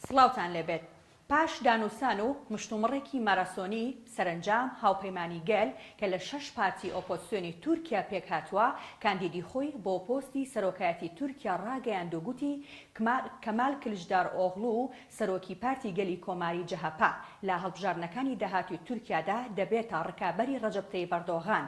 سڵاوتان لێبێت پاش دانوسان و مشتومڕێکی ماراسۆنی سەرەنجام هاوپەیمانی گەل کە لە شەش پارتی ئۆپۆزسیۆنی تورکیا پێکهاتوە کاندیدی خۆی بۆ پۆستی سەرۆکایەتی تورکیا ڕاگەیاند و گوتی کمال کلجدارئۆغڵو سەرۆکی پارتی گەلی کۆماری جەهەپە لە هەڵبژاردنەکانی داهاتوی تورکیادا دەبێتە ڕکابەری ڕەجەب تەیب ئەردۆغان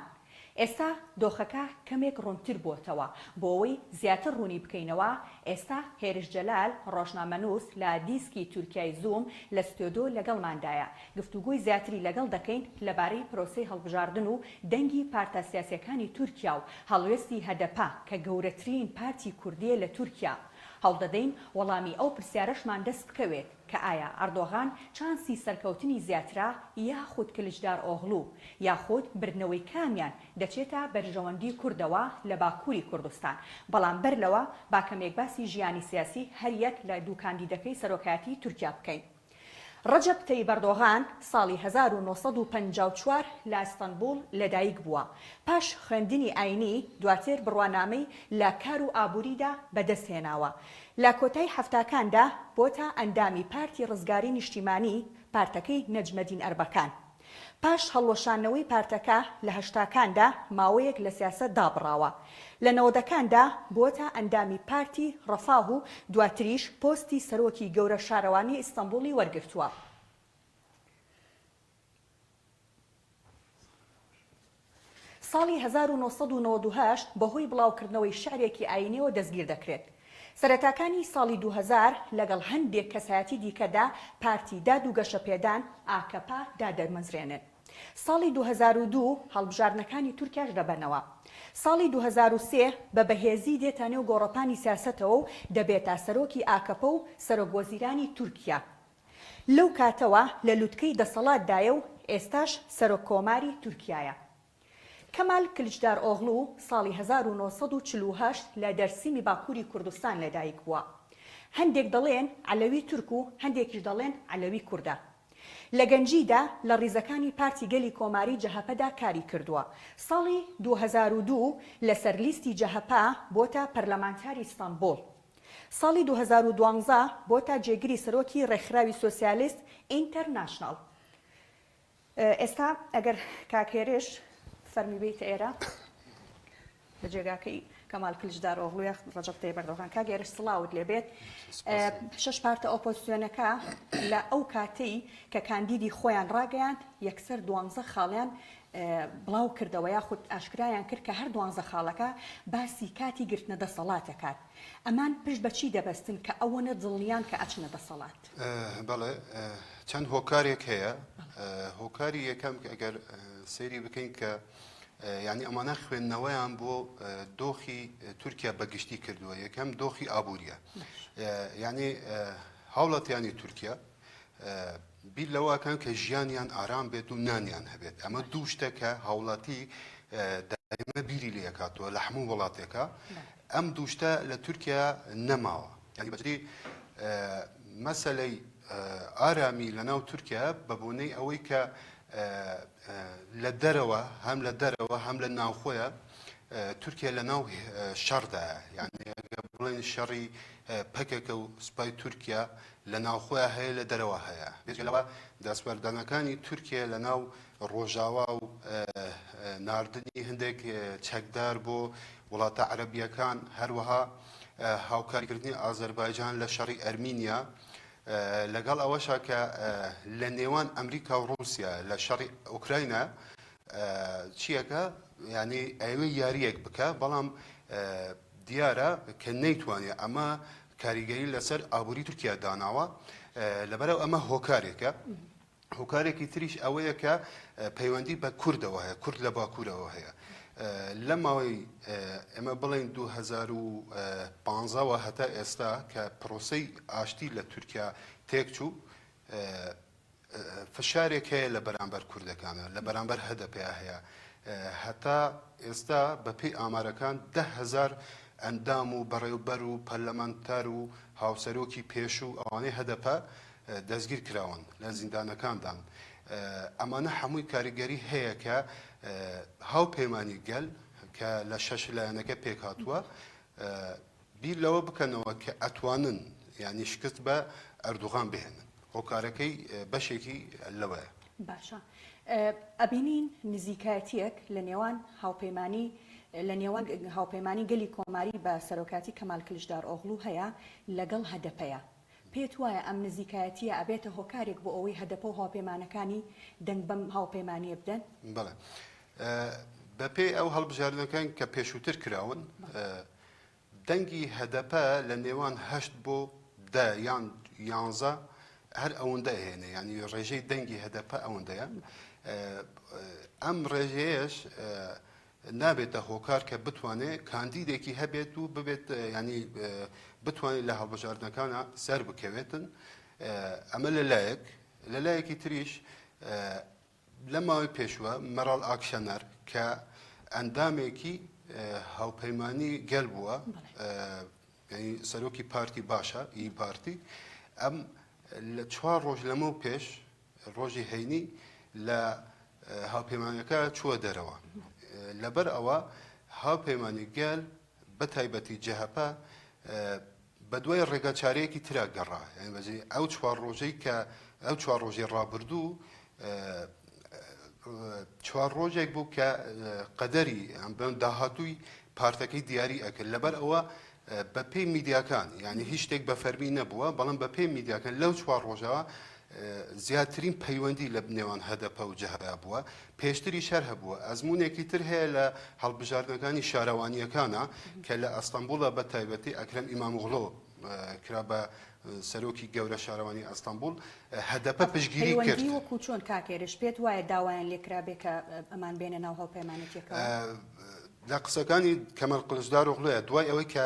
ئێستا دۆخەکە کەمێک ڕوونتر بووەتەوە، بۆوەی زیاتر ڕوونی بکەینەوە، ئێستا هێرش جەلال، ڕۆژنامەنووس لە دیسکی تورکیای زووم لە ستۆدۆ لەگەڵماندایە، گفتوگۆی زیاتری لەگەڵ دەکەین لەبارەی پرۆسەی هەڵبژاردن و دەنگی پارتە سیاسیەکانی تورکیا و هەڵوێستی هەدەپە کە گەورەترین پارتی کوردیە لە تورکیا، هەوڵدەدەین وەڵامی ئەو پرسیارەشمان دەست بکەوێت. کە ئایا ئەردۆغان چانسی سەرکەوتنی زیاترە یاخود کلچدارئۆغلو، یاخود بردنەوەی کامیان دەچێتە بەرژەوەندی کوردەوە لە باکوری کوردستان، بەڵام بەر لەوە با کەمێک باسی ژیانی سیاسی هەریەک لە دوو کاندیدەکەی سەرۆکایەتی تورکیا بکەین. رەجەب تەیب ئەردۆغان ساڵی هەزار و نۆ سەد و پەنجا و چوار لە ئەستەنبوڵ لەدایک بووە، پاش خوێندنی ئاینی دواتر بڕوانامەی لە کار و ئابوریدا بەدەست هێناوە، لە کۆتای حەفتاکاندا بۆتە ئەندامی پارتی ڕزگاری نیشتیمانی، پارتەکەی نەجمەدین ئەربەکان. پاش هەڵوەشاندنەوەی پارتەکە لە هەشتاکاندا ماوەیەک لە سیاسەت دابڕاوە. لە نەوەدەکاندا بۆتە ئەندامی پارتی ڕەفاه و دواتریش پۆستی سەرۆکی گەورەشارەوانی ئیستەنبوڵی وەرگرتووە. ساڵی هەزار و نۆ سەد و نەوەد و هەشت بەهۆی بڵاوکردنەوەی شیعرێکی ئایینیەوە دەستگیر دەکرێت. سەرەتاکانی ساڵی دوو هەزار لەگەڵ هەندێک کەسایەتی دیکەدا پارتی داد و گەشەپێدان، ئاکەپە، دادەمەزرێنن. ساڵی دوو هەزار و دوو هەڵبژاردنەکانی تورکیاش دەبەنەوە. ساڵی دوو هەزار و سێ بە بەهێزی دێتە نێو گۆڕەپانی سیاسەتەوە و دەبێتە سەرۆکی ئاکەپە و سەرۆکوەزیرانی تورکیا. لەو کاتەوە لە لوتکەی دەسەڵاتدایە و ئێستاش سەرۆک کۆماری تورکیایە. کەمال کلچدارئۆغڵو ساڵی هەزار و نۆ سەد و چل و هەشت لە دەرسیمی باکووری کوردستان لەدایک بووە. هەندێک دەڵێن عەلەوی تورک و هەندێکیش دەڵێن عەلەوی کوردە. لە گەنجیدا لە ڕیزەکانی پارتی گەلی کۆماری جەهەپەدا کاری کردووە. ساڵی دوو هەزار و دوو لەسەر لیستی جەهەپە بۆتە پەرلەمانتاری ستانبوڵ. ساڵی دوو هەزار و دوازدە بۆتە جێگری سەرۆکی ڕێکخراوی سۆسیالیست ئینتەر ناشناڵ. ئێستا ئەگەر کاک هێرش فەرمی بێیتە ئێرە لە جێگاکەی کەمال کلچدار ئۆغلوە ڕەجەب تەیب ئەردۆغان کاک هێرش سڵاوت لێ بێت شەش پارتە ئۆپۆزسیۆنەکە لە ئەو کاتەی کە کاندیدی خۆیان ڕاگەیاند یەکسەر دوانزە خاڵیان بڵاوکردەوە یاخود ئاشکرایان کرد کە هەر دوانزە خاڵەکە باسی کاتی گرتنە دەسەڵات دەکات، ئەمان پشت بە چی دەبەستن کە ئەوەنە دڵنیان کە ئەچنە دەسەڵات؟ بەڵێ چەند هۆکارێک هەیە، هۆکاری یەکەم ئەگەر سەیری بکەین کە یانی ئەمانە خوێندنەوەیان بۆ دۆخی تورکیا بە گشتی کردووە، یەکەم دۆخی ئابووریە یانی هاوڵاتیانی تورکیا، بیر لەوە ئەکەن کە ژیانیان ئارام بێت و نانیان هەبێت، ئەمە دوو شتە کە هاوڵاتی دائیمە بیری لێ ئەکاتەوە لە هەموو وڵاتێکا، ئەم دوو شتە لە تورکیا نەماوە. یانی بەجدی مەسەلەی ئارامی لەناو تورکیا بە بۆنەی ئەوەی کە لە دەرەوە هەم لە دەرەوە هەم لە ناوخۆیە تورکیا لەناو شەڕدایە، یانی ئەگەر بڵێن شەڕی پەکەکە و سوپای تورکیا، لە ناوخۆیان هەیە لە دەرەوە هەیە. بێجگە لەوە دەستوەردانەکانی تورکیە لە ناو ڕۆژاوا و ناردنی هەندێک چەکدار بۆ وڵاتە عەرەبییەکان هەروەها هاوکاریکردنی ئازەربایجان لە شەڕی ئەرمینیا لەگەڵ ئەوەشا کە لە نێوان ئەمریکا و ڕووسیا لە شەڕی ئۆکراینا چیەکە یعنی ئەوێ یاریەک بکە بەڵام دیارە کە نەیتوانێ ئەمە کاریگەری لەسەر ئابووری تورکیا داناوە، لەبەرئەو ئەمە هۆکارێکە، هۆکارێکی تریش ئەوەیە کە پەیوەندی بە کوردەوە هەیە، کورد لە باکوورەوە هەیە. لە ماوەی ئێمە بڵێین دوو هەزار و پانزە وە هەتا ئێستا کە پرۆسەی ئاشتی لە تورکیا تێکچوو، فشارێک هەیە لە بەرامبەر کوردەکانا، لە بەرامبەر هەدەپەیا هەیە. هەتا ئێستا بە پێی ئامارەکان دە هەزار ئەندام و بەڕێوبەر و پەرلەمانتار و هاوسەرۆکی پێشوو ئەوانەی هەدەپە دەستگیر کراون، لە زیندانەکاندان. ئەمانە حەمووی کاریگەری هەیە کە هاوپەیمانی گەل کە لە شەش لایەنەکە پێکهاتووە، بیر لەوە بکەنەوە کە ئەتوانن یانی شکست بە ئەردوغان بهێنن هۆکارەکەی بەشێکی لەوەیە. باشە ئەبینین نزیکایەتیەک لە نێوان هاوپەیمانی لە نێوان هاوپەیمانی گەلی کۆماری بە سەرۆکاتی کەمال کلچدار ئۆغڵو هەیە لەگەڵ هەدەپەیە پێت وایە ئەم نزیکایەتیە ئەبێتە هۆکارێک بۆ ئەوەی هەدەپە و هاوپەیمانەکانی دەنگ بەم هاوپەیمانیە بدەن؟ بەڵێ بەپێی ئەو هەڵبژاردنەکان کە پێشووتر کراون دەنگی هەدەپە لە نێوان هەشت بۆ دە یان یانزە هەر ئەوەندە ئەهێنێ یانی ڕێژەی دەنگی هەدەپە ئەوەندەیە ئەم ڕێژەیەش نابێتە هۆکار کە بتوانێت کاندیدێکی هەبێت و ببێت ینی بتوانێت لە هەڵبژاردنەکانە سەر بکەوێتن ئەمە لەلایەک لەلایەکی تریش لە ماوەی پێشوە مەرال ئاکشەنەر کە ئەندامێکی هاوپەیمانی گەل بووە سەرۆکی پارتی باشە ئی پارتی ئەم لە چوار ڕۆژ لەمە و پێش ڕۆژی هەینی لە هاوپەیمانەکە چووە دەرەوە لەبەر ئەوە هاوپەیمانی گەل بە تایبەتی جەهەپە بەدوای ڕێگا چارەیەکی ترا گەڕا، یانی بەجێی ئەو چوار ڕۆژەی کە ئەو چوار ڕۆژەی ڕابردوو چوار ڕۆژێک بوو کە قەدەری ئەم بڵێم داهاتووی پارتەکەی دیاری ئەکرد لەبەر ئەوە بەپێی میدیاکان یعنی هیچ شتێک بە فەرمی نەبووە بەڵام بەپێی میدیاکان لەو چوار ڕۆژەوە زیاترین پەیوەندی لە نێوان هەدەپە و جەهەدا بووە، پێشتریش هەر هەبووە. ئەزموونێکی تر هەیە لە هەڵبژاردنەکانی شارەوانییەکانە کە لە ئەستەنبوڵە بە تایبەتی ئەکرەم ئیمامۆغڵۆ کرا بە سەرۆکی گەورە شارەوانی ئەستەنبوڵ، هەدەپە پشتگیری کرد. پەیوەندی وەکوو چۆن کاک هێرش؟ پێت وایە داوایان لێ کرابێ کە ئەمان بێنە ناو هەڵپەیمانێتییەکەوە؟ لە قسەکانی کەمال قلیچداروغلۆیە دوای ئەوەی کە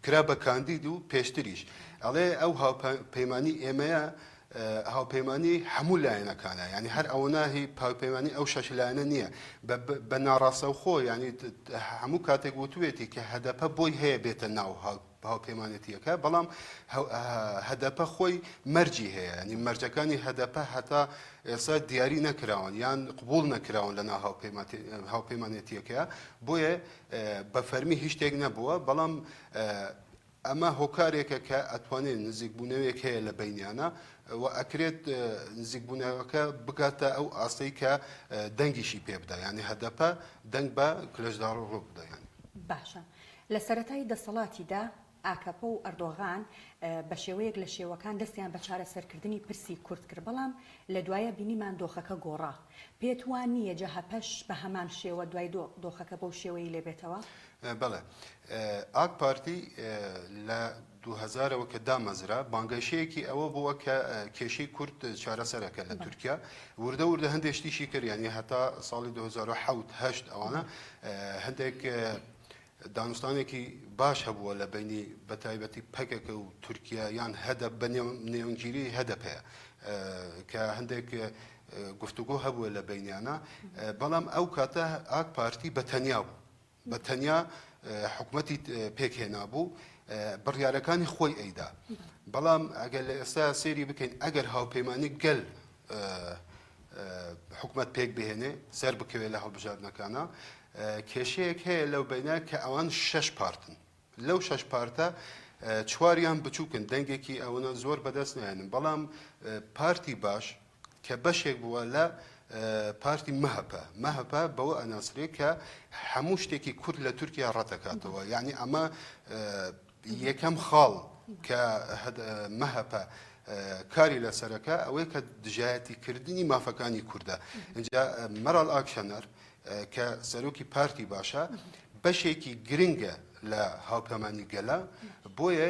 کرا بە کاندید و پێشتریش ئەڵێ ئەو هاوپەیمانی ئێمەیە هاوپەیمانی هەموو لایەنەکانە ینی هەر ئەوە ناهی پاوپەیمانی ئەو شەش لایەنە نییە بە ناڕاستەوخۆ ینی هەموو کاتێک وتوێتی کە هەدەپە بۆی هەیە بێتە ناو هاوپەیمانەتیەکە بەڵام هەدەپە خۆی مەرجی هەیە ینی مەرجەکانی هەدەپە هەتا ئێستا دیاری نەکراون یان قبول نەکراون لە نا هاوپەیمانەتیەکە بۆیە بە فەرمی هیچ شتێک نەبووە، بەڵام ئەمە هۆکارێکە کە ئەتوانێت نزیکبوونەوێک هەیە لە بەینیانە و ئەکرێت نزیکبوونەوەکە بگاتە ئەو ئاستەی کە دەنگیشی پێ بدا یانی هەدەپە دەنگ بە کلێژداڕۆغلۆ بدایانی. باشە لە سەرەتای دەسەڵاتیدا ئاکەپە و ئەردۆغان بە شێوەیەک لە شێوەکان دەستیان بە چارەسەرکردنی پرسی کورد کرد، بەڵام لە دوایە بینیمان دۆخەکە گۆڕا. پێت وا نییە جەهەپەش بە هەمان شێوە دوای دۆخەکە بەو شێوەیەی لێ بێتەوە؟ بەڵێ. ئاک پارتی لە دوو هەزار ەوە کە دامەزرا، بانگەشەیەکی ئەوە بووە کە کێشەی کورد چارەسەر ئەکا لە تورکیا. وردە وردە هەندێک شتیشی کرد، یانی هەتا ساڵی دوو هەزار و حەوت هەشت ئەوانە هەندێک دانوستانێکی باش هەبووە لە بەینی بەتایبەتی پەکەکە و تورکیا یان هەدەپ بە نێونگیری هەدەپە کە هەندێک گفتوگۆ هەبووە لە بینیانە بەڵام ئەو کاتە ئاک پارتی بە تەنیا بوو بە تەنیا حکوومەتی پێکهێنا بوو بڕیارەکانی خۆی ئەیدا بەڵام ئەگەر لە ئێستا سێری بکەین ئەگەر هاوپەیمانانی گەل حکومەت پێک بهێنێ سەر بکەوێت لە هەڵبژاردنەکانە کێشەیەک هەیە لەو بینە کە ئەوان شەش پارتن لەو شەش پارتە چواریان بچووکن دەنگێکی ئەوەنە زۆر بەدەست نایەنن بەڵام پارتی باش کە بەشێک بووە لە پارتی مەهپە مەهپە بەوە ئەناسرێ کە هەموو شتێکی کورد لە تورکیا ڕەتەکاتەوە یعنی ئەمە یەکەم خاڵ کە مەهەپە کاری لەسەرەکە ئەوەی کە دژایەتی کردنی مافەکانی کووردە اینجا مەراڵ ئاکشەنەر کە سەرۆکی پارتی باشە بەشێکی گرنگە لە هاوپەمانی گەلە بۆیە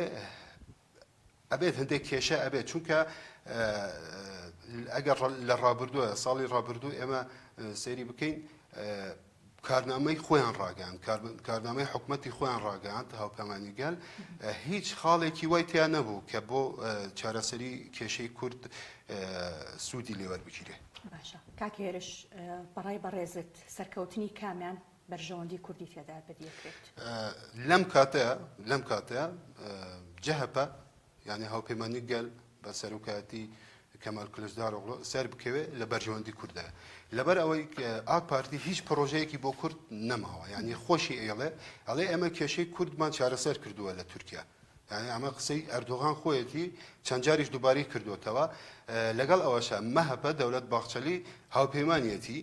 ئەبێت هەندێک کێشە ئەبێت چونکە ئەگەر لە ڕابردووە ساڵی ڕابردوو ئێمە سەیری بکەین کارنامەی خۆیان ڕاگەیاند، کارنامەی حکومەتی خۆیان ڕاگەیاند، هاوپەیمانانی گەل هیچ خاڵێکی وای تیا نەبوو کە بۆ چارەسەری کێشەی کورد سوودی لێوەربگیرێ. باشە کاک هێرش بەڕای بەڕێزت سەرکەوتنی کامیان بەرژەوەندی کوردی تێدا بەدیەکرێت؟ لەم کاتەیە لەم کاتەیە جەهەپە یانی هاوپەیمانی گەل بە سەرۆکایەتی کەمال کلچدارۆغڵۆ سەر بکەوێت لە بەرژەوەندی کوردە لەبەر ئەوەی ئاک پارتی هیچ پرۆژەیەکی بۆ کورد نەماوە یعنی خۆشی ئێڵێ ئەڵێ ئەمە کێشەی کوردمان چارەسەر کردووە لە تورکیا یعنی ئەمە قسەی ئەردۆغان خۆیەتی چەند جاریش دووبارەی کردوتەوە لەگەڵ ئەوەشە مەهەپە دەولەت باخچەلی هاوپەیمانەتی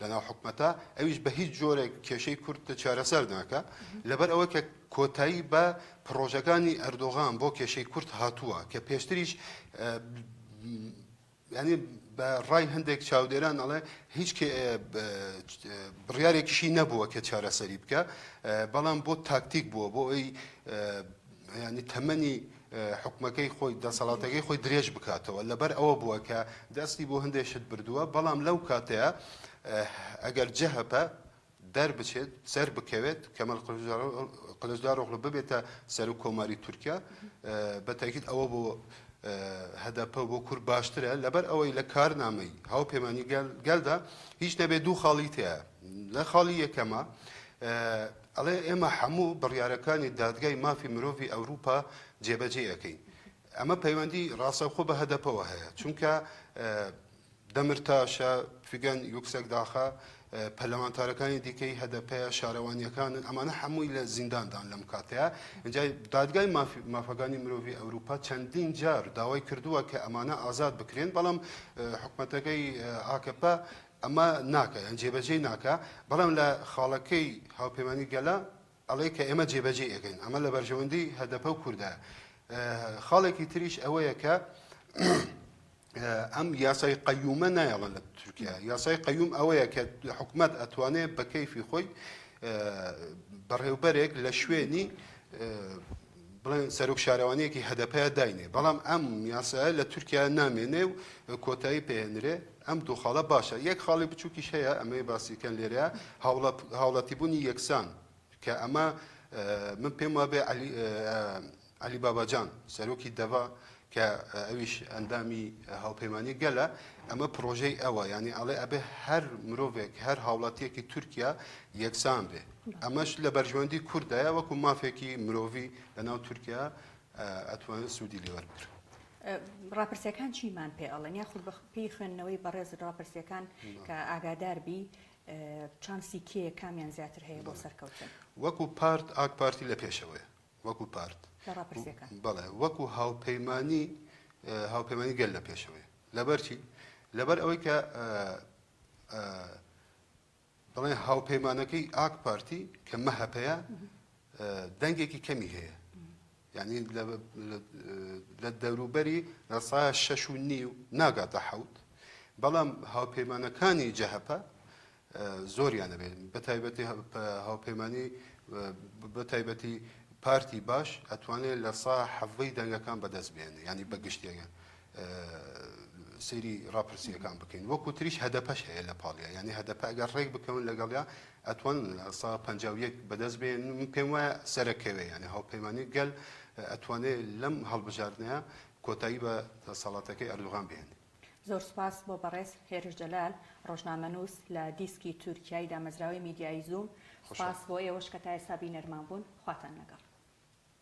لەناو حکومەتە ئەویش بە هیچ جۆرێک کێشەی کورد چارەسەر ناکە لەبەر ئەوە کە کۆتایی بە پڕۆژەکانی ئەردۆغان بۆ کێشەی کورد هاتووە کە پێشتریش ینی بە ڕای هەندێک چاودێران ئەڵێ هیچ بڕارێکیشی نەبووە کە چارەسەری بکە بەڵام بۆ تاکتیک بووە بۆ ئەوی یانی تەمەنی حکومەکەی خۆی دەسەڵاتەکەی خۆی درێژ بکاتەوە لەبەر ئەوە بووە کە دەستی بۆ هەندێ شت بردووە بەڵام لەو کاتەیە ئەگەر جەهپە دەربچێت سەر بکەوێت کەمەل قلجدار ڕۆخلە ببێتە سەر و کۆماری تورکیا بە تاکیت ئەوە بۆ هەدەپە بۆ کورد باشترە لەبەر ئەوەی لە کارنامەی هاو پەیمانانی گەلدا هیچ نەبێت دوو خاڵی تەیە لە خاڵی یەکەمە ئەڵێ ئێمە حەموو بڕیارەکانی دادگای مافی مرۆڤی ئەوروپا جێبەجێ ئەکەین. ئەمە پەیوەندی ڕاستەوخۆ بە هەدەپەوە هەیە. چونکە دەمرتاشە، فیگەن یوکسەکداخە، پەرلەمانتارەکانی دیکەی هەدەپەیە، شارەوانیەکانن، ئەمانە حەمووی لە زینداندان لەم کاتەیا. ئینجا دادگای مافی مافەکانی مرۆڤی ئەوروپا چەندین جار داوای کردووە کە ئەمانە ئازاد بکرێن، بەڵام حکومەتەکەی ئاکەپە ئەمە ناکا یان جێبەجێی ناکا بەڵام لە خاڵەکەی هاوپەیمانی گەلە ئەڵێ کە ئێمە جێبەجێی ئەکەین ئەمە لە بەرژەوەندی هەدەپە و کوردە خاڵێکی تریش ئەوەیە کە ئەم یاسای قەیومە نایەڵە لە تورکیا یاسای قەیوم ئەوەیە کە حکومت ئەتوانێت بە کەیفی خۆی بەڕێوبەرێک لە شوێنی بڵێن سەرۆک شارەوانیەکی هەدەپەیە داینێ بەڵام ئەم یاسایە لە تورکیا نامێنێ و کۆتایی پێێنرێ ئەم دوو خاڵە باشە. یەک خاڵی بچووکیش هەیە ئەمەوێ باسی بکەن لێرە، هاوڵات هاوڵاتیبوونی یەکسان، کە ئەمە من پێم وابێ عەلی عەلی باباجان سەرۆکی دەڤا کە ئەویش ئەندامی هاوپەیمانی گەلە، ئەمە پڕۆژەی ئەوە، یانی ئەڵێ ئەبێ هەر مرۆڤێک، هەر هاوڵاتییەکی تورکیا یەکسان بێ. ئەمەش لە بەرژوەندی کوردایە وەکوو مافێکی مرۆڤی لەناو تورکیا ئەتوانێت سوودی لێ وەربگرن. ڕاپرسیەکان چیمان پێ ئەڵێن یاخود بە پێی خوێندنەوەی بەڕێز ڕاپرسیەکان کە ئاگاداربی چانسی کێ کامیان زیاتر هەیە بۆ سەرکەوتن وەکو پارت ئاک پارتی لە پێشەوەیە وەکو پارت بەڵێ وەکو هاوپەیمانانی هاوپەیمانانی گەل لە پێشەوەی لەبەرچی لەبەر ئەوەی کە دەڵێن هاوپەیمانەکەی ئاک پارتی کە مەهەپەیە دەنگێکی کەمی هەیە یعنی لە دەوروبەری ڕسایە شەش و نیو ناگاتە حەوت بەڵام هاوپەیمانەکانی جەهپە زۆریانە بێت بە تایبەتی هاوپەیمانانی بە تایبەتی پارتی باش ئەتوانێت لە سا حەڤەی دەنگەکان بەدەست بێنێ ینی بە گشتێگەن سەیری ڕاپرسییەکان بکەین وەکو تریش هەدەپەش هەیە لە پاڵیا یعنی هەدەپە ئەگەر ڕێک بکەون لەگەڵیا ئەتوان سا پەنجا و یەک بەدەست بێن من پێم وایە سەرەکەوێ یعنی هاوپەیمانی گەل ئەتوانێ لەم هەڵبژاردنەیە کۆتایی بە دەسەڵاتەکەی ئەردوغان بهێنێ زۆر سوپاس بۆ بەڕێز هێرش جەلال ڕۆژنامەنووس لە دیسکی تورکیای دامەزراوەی میدیایی زووم خوشا. سوپاس بۆ ئێوەش کە تا ئێستا بینەرمان بوون خواتان لەگەڵ.